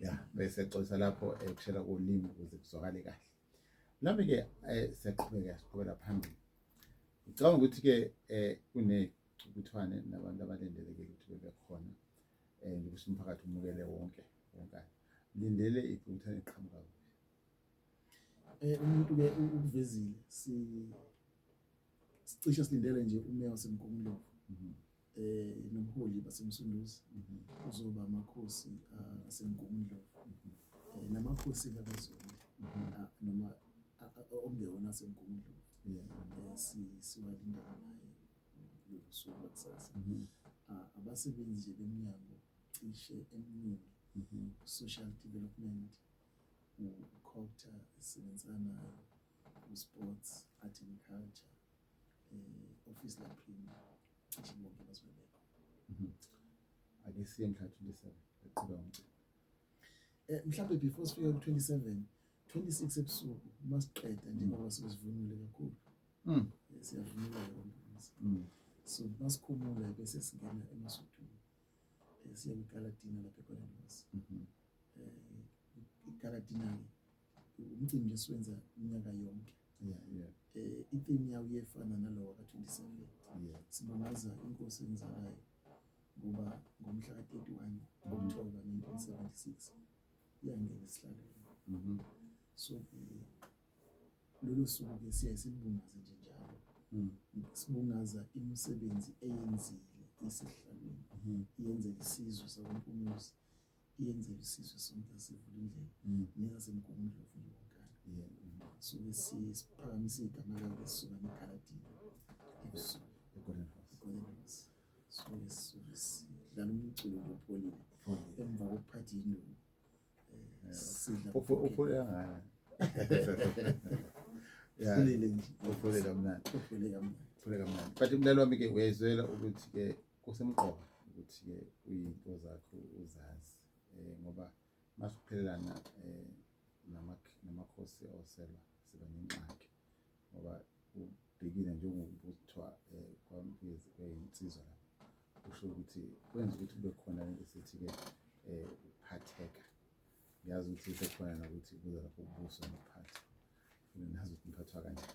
ya bese xosa lapho ekushela eh, kolimi ukuze kuzwakale kahle nami ke eh, siyaqhubeka siqhubela phambili ngicabanga ukuthi ke eh, kunecukuthwane nabantu abalindelekile ukuthi bebe khona um ukuthi umphakathi umukele wonke wonkana lindele icukuthwane iqhamuka kuphi um umuntu-ke ukuvezile sicishe silindele nje umeya wasemgungundlovu mhm. eh nomholi basemsunduzi uzoba amakhosi asemgungundlovu eh, namakhosi kabezulu ah, noma okungewona asemgungundlovu eh, siwalinda naye losuku lakusasa mhm. ah, abasebenzi nje bemnyango cishe eminingi mhm. social development ukhotha esebenzisana nayo usports art and culture eh, ofisi la premier cishe bonke bazobe bekho mhm. ake siye mhla 27 eqhubeka umcimbi eh mhlawumbe before sifike ku 27 26 ebusuku masiqeda njengoba mhm. sizivunule kakhulu mhm eh, siyavunula ngokuthi mhm. so masikhumula bese singena emasuthwini eh, siye ku Galadina lapha eGolden House mhm eh Galadina umcimbi nje siwenza unyaka yonke yeah, yeah. Eh, itheme yawo iyefana nalowa ka-27 yeah. sibongaza inkosi enzalayo ngoba ngomhla ka-31 oktoba 1976 iyangena esihlalweni mm -hmm. so eh, lolo suku-ke siyaye silibungaze nje njalo mm. sibungaza imisebenzi eyenzile isihlalweni mm -hmm. iyenzela isizwe sakwampunyuzi yenze isizwe sonke sivule indlela mm. nezasemgungundlo ufuna wonkana suke siphakamise igama lakhe sisuka negalatina ebusuku egolden house suke sisuke sidlala umculo lopholile emva kokuphatha induku eh, sidla uphole angana uphole kamnandi uphole kamnandi uphole kamnandi but umlalo wami-ke uyayizwela ukuthi-ke kusemqoka ukuthi-ke uyinto zakho uzazi um ngoba masiphelelana um namakhosi oselwa siba nengxaki ngoba ubhekile njengokuthiwa um kweyinsizwa la kusho ukuthi kwenza ukuthi kube khona lento esithi-ke um ukuphatheka ngiyazi ukuthi sekhona nokuthi kuze lapho ubuso nokuphatha ngingazi ukuthi ngiphathwa kanjani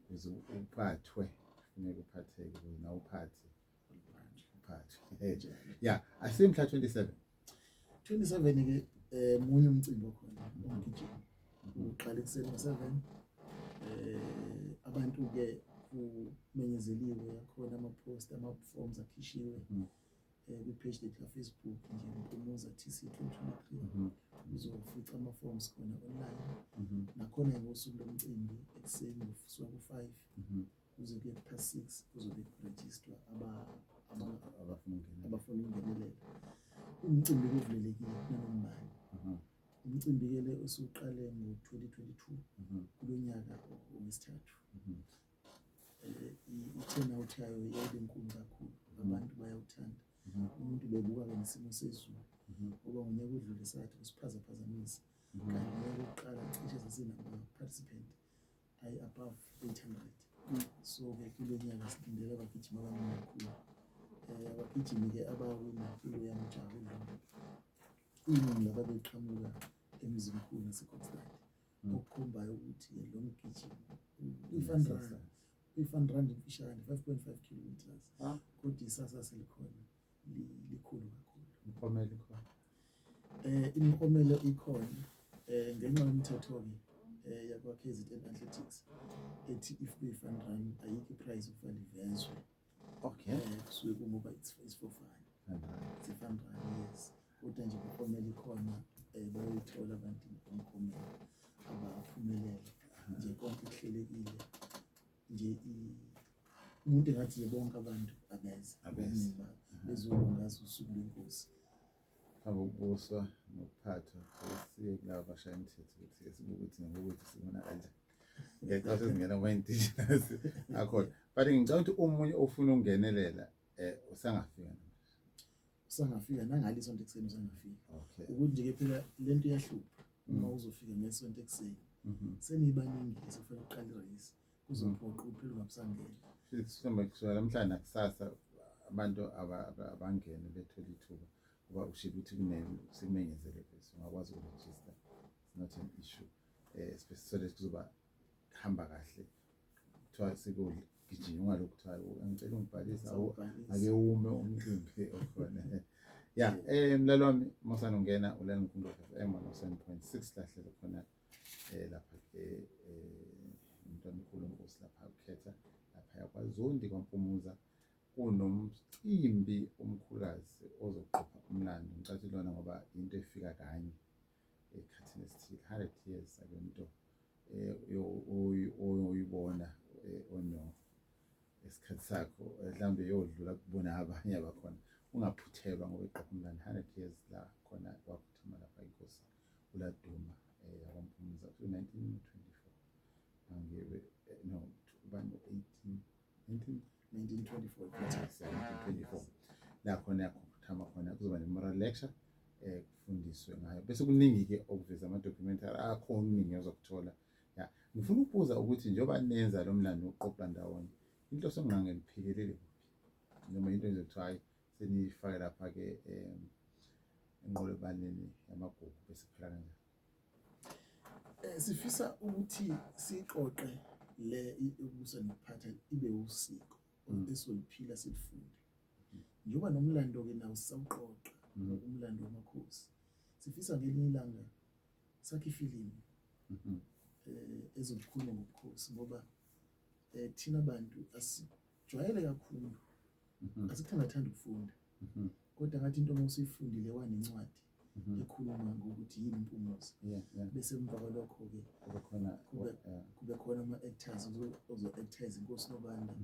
kuze uphathwe funeka uphatheke kuze nawe uphathe uphathwe ya asiye mhla 27 27 ke eh munye umcimbi okhona ongigijima uqala ekuseni ngo-7 eh abantu ke kumenyezeliwe yakhona ama-post ama-forms akhishiwe mm. eh, kwi-page lethu lafacebook nje mpumuza tc 2023 uzofica ama-forms khona online mhm. nakhona ngosuku lomcimbi ekuseni kusuka ku-five mhm. kuze kuye ku-past six kuzobe kurejistwa abafuna ukungenelela umcimbi kuvulelekile nanombani mhm. umcimbi-ke le osuqale ngo-2022 kulo nyaka wesithathu ithena uthi ayo yebe nkulu kakhulu abantu bayawuthanda umuntu bebuka ke nesimo sezulu ngoba ngonyaka udlule sathi kusiphazaphazamisa kanti ngeke ukuqala cishe sesinama-participant ayi above 800 so ke kulo nyaka silindele abagijima abaningi kakhulu um abagijimi-ke abawina kulo yamjaho iningi lababeqhamuka emzimkhulu nasecoxland mm. okukhombayo ukuthi-ke lo mgijimi i-fun run i-fun run imfishane five point five kilometers ah. kodwa isasa selikhona likhulu kakhulu imiklomelo ikhona um imiklomelo ikhona um ngenxa yomthetho-ke um yakwa-k z n athletics ethi if kuyi-fun run ayikho iprize okufanele ivezwe Okay. Eh, kusuke kungoba isifofane. Sifana yes. Kodwa nje kukhomela ikhona eh, bayithola abantu umkhomela abaphumelele nje konke kuhlelekile nje umuntu engathi bonke abantu abeze abeze bezokwazi usuku lwenkosi abokubuswa nokuphathwa sesiye kulaba bashaya imithetho ukuthi esibuke ukuthi ngokuthi sibona kanjani ngiyacela sezingena kuma indigenous akhona but ngicela ukuthi omunye ofuna ukungenelela eh usangafika usangafika nangali isonto ekuseni usangafika okay ukuthi nje ke phela lento iyahlupha uma mm. uzofika ngesonto ekuseni mhm. seniyibaningi sifuna ukuqala irace kuzomphoqa ukuphila ungabusangeni sithemba kusukela namhlanje nakusasa abantu abangene bethole ithuba ngoba ushilo ukuthi sekumenyezele bese ungakwazi ukurejista not an issue um sibesisole kuzoba kuhamba kahle kuthiwa sekugijima ungalokhu kuthiwa angicela ungibhalisa ake ume umcimbi okhona ya um mlalo wami mosana ungena ulala ngikhumbuka f m one oh seven point six lahlelo khona eh lapha ke eh umntwana mkhulu nkosi lapha ukhetha lapha yakwazondi kwampumuza kunomcimbi omkhulazi ozoqopha umlando ngicathi lona ngoba into efika kanye ekhathini esithile 100 years akuyonto eh, oyibona eh, ono esikhathi sakho mhlawumbe yodlula kubona abanye abakhona ungaphuthelwa ngoba iqopha umlando 100 years la khona waphuthelwa uLaduma eh, yabamphumuza ku 1924 angebe eh, no ubani 18 19 1924 la khona yakhothama khona kuzoba ne-moral lecture eh kufundiswe ngayo bese kuningi ke okuveza ama documentary akho okuningi ozokuthola ya ngifuna ukubuza ukuthi njengoba nenza lo mlando uqoqa ndawonye inhloso ngqange liphikelele kuphi noma into enje kuthiwa hayi seniyifake lapha-ke um enqolobaneni yamagugu bese phela kanjani um sifisa ukuthi siqoqe le ubusa nokuphatha ibe usiko mm. esoliphila silifunde mm. njengoba nomlando-ke nawo sisawuqoqa mm. umlando wamakhosi sifisa ngelinye ilanga sakhe ifilimu um mm-hmm. eh, ezokhuluma ngobukhosi ngoba um thina bantu jwayele kakhulu mhm. asikho ngathanda ukufunda mhm. kodwa ngathi into uma usuyifundile wanencwadi mhm. ekhuluma ngokuthi yini impumuzo bese emva kwalokho-ke kube khona ama-actors ozo-actors inkosi nobanda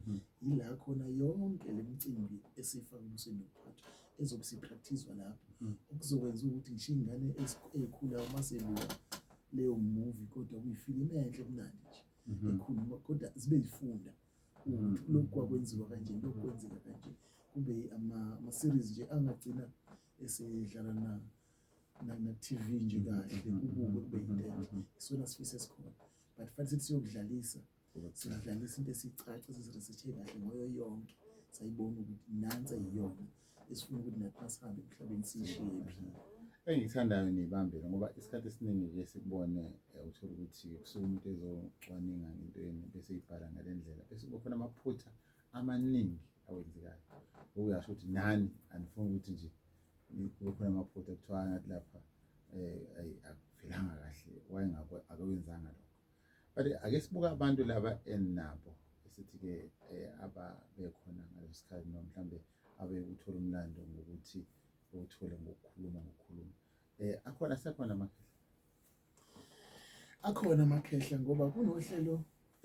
yila khona yonke le mcimbi esiyifaka umuseni nokuphathwa ezobe sipractizwa lapho okuzokwenza ukuthi ngisho iy'ngane ey'khula uma seluka leyo movie kodwa kuyifilimi enhle kumnandi nje ekhuluma kodwa zibe yifunda Mm. lokhu kwakwenziwa kanje lokhu kwenzeka kanje kube ama-series nje angagcina esedlala na na-TV nje kahle mm-hmm. ubuke kube yinto mm-hmm. isona sifiso esikhona but fanele sithi siyokudlalisa sidlalisa into esiyicaca siziresethe kahle ngoyo yonke sayibona ukuthi nansi yiyona esifuna ukuthi nathi masihambe emhlabeni siyishiye phi engiyithandayo niyibambile ngoba isikhathi esiningi ke sikubone eh, uthole ukuthi kusuke umuntu ezocwaninga into yenu bese ibhala ngale ndlela bese kukhona amaphutha amaningi awenzekayo okuyasho ukuthi nani anifuni ukuthi nje kube khona amaphutha kuthiwa ngathi lapha um akuvelanga kahle wayengako akawenzanga lokho but ake sibuka abantu laba eninabo esithi-ke um ababekhona ngaleso sikhathi noma mhlawumbe abe uthola umlando ngokuthi uwuthole ngokukhuluma ngokukhuluma eh akhona asekhona amakhehla akhona amakhehla ngoba kunohlelo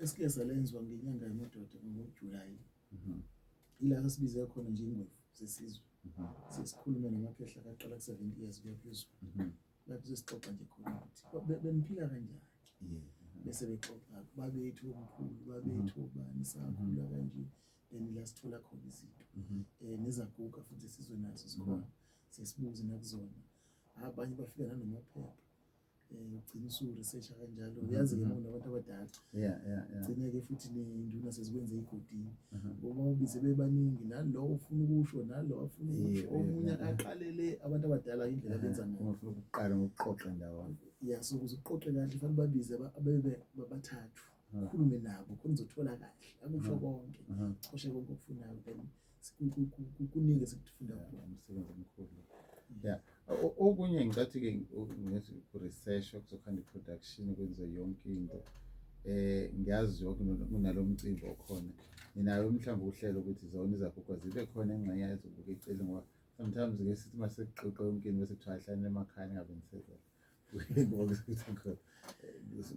esike salenziwa ngenyanga yamadoda ngoJulayi mhm. ila sasibize khona nje ingwevu zesizwe mhm. sesikhulume namakhehla kaqala ku-70 years kuya phezulu mhm. lapho sesixoxa nje khona ukuthi beniphila kanjani bese bexoxa babethu omkhulu babethu obani sakhula kanje mm -hmm. then la sithola khona izinto um nezaguga futhi esizwe nazo zikhona sesibuze nakuzona abanye bafika nanomaphepha um ugcina usuresearcha kanjalo uyazi ke mona abantu abadala gcine-ke futhi nenduna sezikwenze igodini uma ubize bebaningi nalo ufuna ukusho nalo afuna ukusho omunye aqalele abantu abadala indlela benza ngayoqala ngokuqoqa ndawonye ya so kuze uqoqe kahle fanele babize ababathathu mm. khulume nabo khona uzothola kahle akusho mm. konke mm-hmm. coshe konke okufunayo then kuningi esikufunda umsebenzi omkhulu ya okunye ngicathi-ke ngithi ku-research okuzokhanda i-production kwenze yonke into eh ngiyazi yonke kunalo mcimbi okhona nginayo mhlawumbe uhlelo ukuthi zona izaguga zibe khona engxenye yazobuka iceli ngoba sometimes-ke sithi uma sekuxoxa yonke into bese kuthiwa ahlane emakhaya ningabe nisezela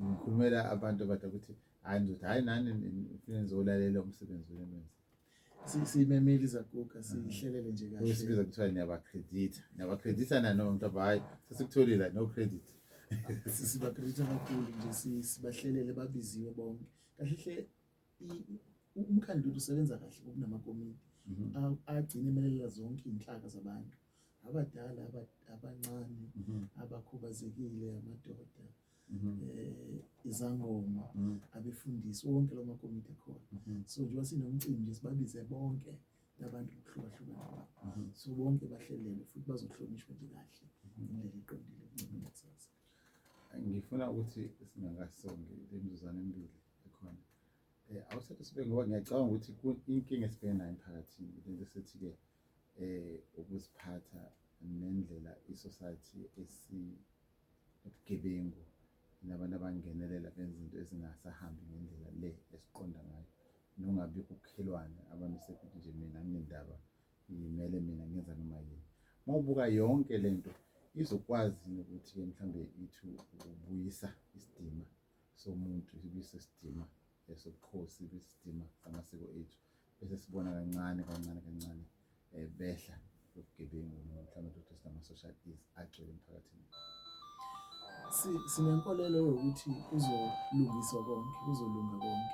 ngikhulumela abantu abada ukuthi hayi ndoda hayi nani ngifike ngizolalela umsebenzi wenu enwenza siyimemile izaguga siyihlelele nje kahle sibiza kuthiwa niyabakreditha niyabakreditha nanoma mntu aba hhayi sesikutholile no credit sibakreditha kakhulu nje sibahlelele babiziwe bonke kahle hle umkhandlu usebenza kahle ngokunamakomiti mhm. agcine emelela zonke iy'nhlaka zabantu abadala abancane mhm. abakhubazekile amadoda mhm. eh, izangoma mhm. abefundisi wonke lo makomiti akhona so njengoba sinomcimbi nje sibabize bonke nabantu bokuhlukahlukana kwabo so bonke bahlelele futhi bazohlonishwa nje kahle indlela eqondile ncimnethaza ngifuna ukuthi singakasongi le mzuzane embili ekhona um awusathi sibe ngoba ngiyacabanga ukuthi inkinga esibheke nayo emphakathini lento esithi-ke ukuziphatha nendlela i-society esibugebengu nabantu abangenelela benza izinto ezingasahambi ngendlela le esiqonda ngayo nongabi kukhelwane abantu sekuthi nje mina nginendaba ngimele mina ngenza noma yini uma ubuka yonke le nto izokwazi nokuthi mhlawumbe ithi ukubuyisa isidima somuntu ibuyise isidima esobukhosi besidima samasiko ethu bese sibona kancane kancane kancane um behla lobugebengu mhlawumbe ukuthi sinama-social is agcwele emphakathini sinenkolelo yokuthi kuzolungiswa konke kuzolunga konke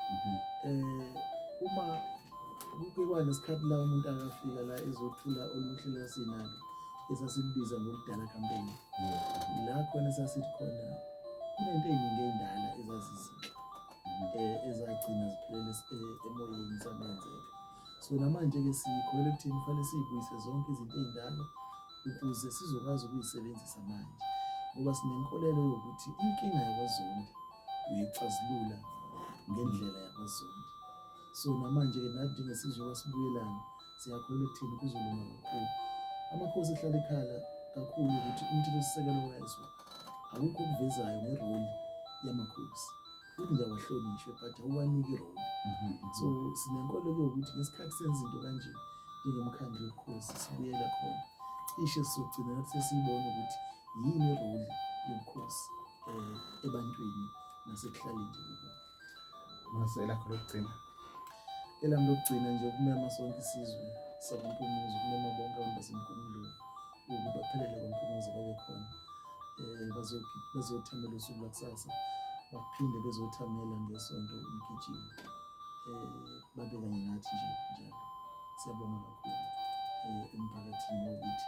um uma kuba nesikhathi la umuntu akafika la ezothula oluhle lasinalo esasibiza ngokudala kampeni la khona sasithi khona kunento eyiningi eyindala ezazizinhle eh, ezagcina ziphelele eh, emoyeni zamenze-ke so namanje-ke sikholele ekuthini kufanele siyibuyise zonke izinto ey'ndala ukuze sizokwazi ukuyisebenzisa manje ngoba sinenkolelo yokuthi inkinga yakwazondi uyixazulula ngendlela yakwazondi so namanje-ke nathi njengesizwe sibuyelane siyakholwa ekuthini kuzolunga kakhulu amakhosi ehlala ekhala kakhulu ukuthi umthethosisekelo wayezwa akukho okuvezayo ngeroli yamakhosi futhi ngiyawahlonishwe but awuwaniki iroli mhm, mhm. so sinenkolo ke ukuthi ngesikhathi senza into kanje njengomkhandlu wobukhosi sibuyela khona ishe sizogcina lapho sesiyibona ukuthi yini iroli yobukhosi um ebantwini nasekuhlaleni nje Mase elakho lokugcina. Elami lokugcina nje ukumema sonke isizwe sabampumuzo ukumema bonke abantu basempumelweni ukuba baphelele kwampumuzo babe khona um bazothamela usuku lakusasa baphinde bezothamela ngesonto umgijimo um babe kanye nathi nje njalo siyabonga kakhulu um emphakathini wokuthi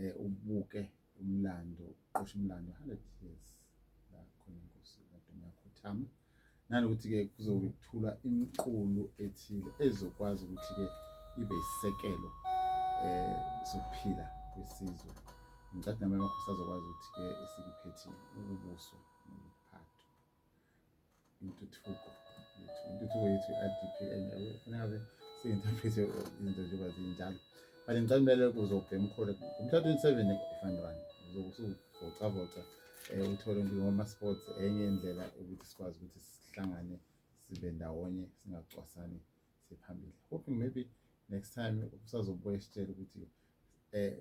eh ubuke umlando uqosha umlando 100 years la khona inkosi kaDuma yakhothama nanokuthi ke kuzobe kuthula imiqulu ethile ezokwazi ukuthi ke ibe isekelo eh sokuphila kwesizwe ngicabanga nami amakhosi azokwazi ukuthi ke esikuphethile ukubuso intuthuko yethu intuthuko yethu i-adpn kufuneka be siyinterprete izinto njengoba zinjalo but ngicela kumele kuze ubhema ukhole ngomhla twenty-seven efanelwani uzokuvocavoca um eh, uthole ngoma-sports enye indlela ukuthi sikwazi ukuthi sihlangane sibe ndawonye singacwasani siphambili hoping maybe next time usazobuya sitshele ukuthi eh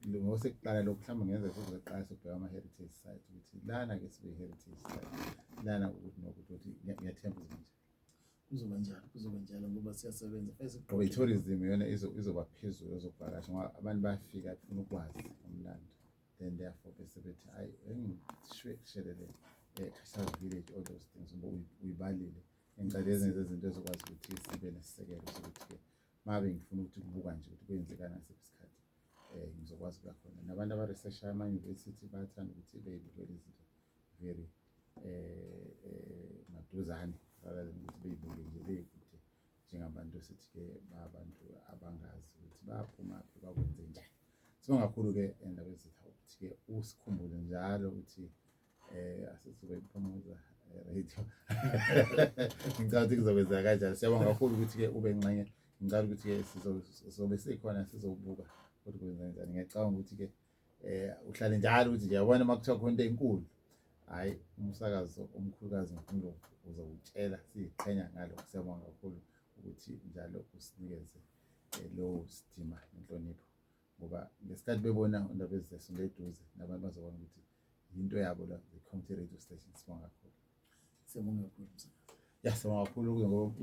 ngosekugqala lokhu mhlawumbe ngenza futhi zoqala sokubheka ama-heritage site ukuthi lana-ke sibe heritage site lana ukuthi nokuthi ukuthi ngiyathemba izinto kuzoba njalo kuzoba njalo ngoba siyasebenza ngoba i-tourism yona izoba phezulu ezokuvakasha ngoba abantu bayafika funa ukwazi umlando then therefore bese bethi hayi engishelele um eh, village all those things ngoba uyibalile ngicela ezinye zezinto ezokwazi ukuthi sibe nesisekelo sokuthi-ke mabe ngifuna ukuthi kubuka nje ukuthi kwenzekani ngasiphi isikhathi um ngizokwazi ukuya khona nabantu abaresearcha ama-university bayathanda ukuthi beyibukele izinto very um maduzane rather than ukuthi beyibuke nje beyikude njengabantu esithi-ke babantu abangazi ukuthi baphumaphi bakwenze njani sibonga kakhulu-ke endaba ezitha ukuthi-ke usikhumbuze njalo ukuthi Eh asisuke iphumuza eh, right. Ngicela ukuthi kuzokwenza kanjani. Siyabonga kakhulu ukuthi ke ube nxenye. Ngicela ukuthi ke sizobe sikhona sizobuka ukuthi kwenza kanjani. Ngiyacabanga ukuthi ke eh uhlale njalo ukuthi nje yabona makuthiwa khona into enkulu. Hayi umsakazo omkhulukazi ngifuna uzokutshela siqhenya ngalo. Siyabonga kakhulu ukuthi njalo usinikeze eh, lo sidima inhlonipho. ngoba ngesikhathi bebona indaba ezizesonto eduze nabantu bazobona ukuthi yinto yabo la i-community radio station sibonga kakhulu sibonga kakhulu ya sibonga kakhulu ngoba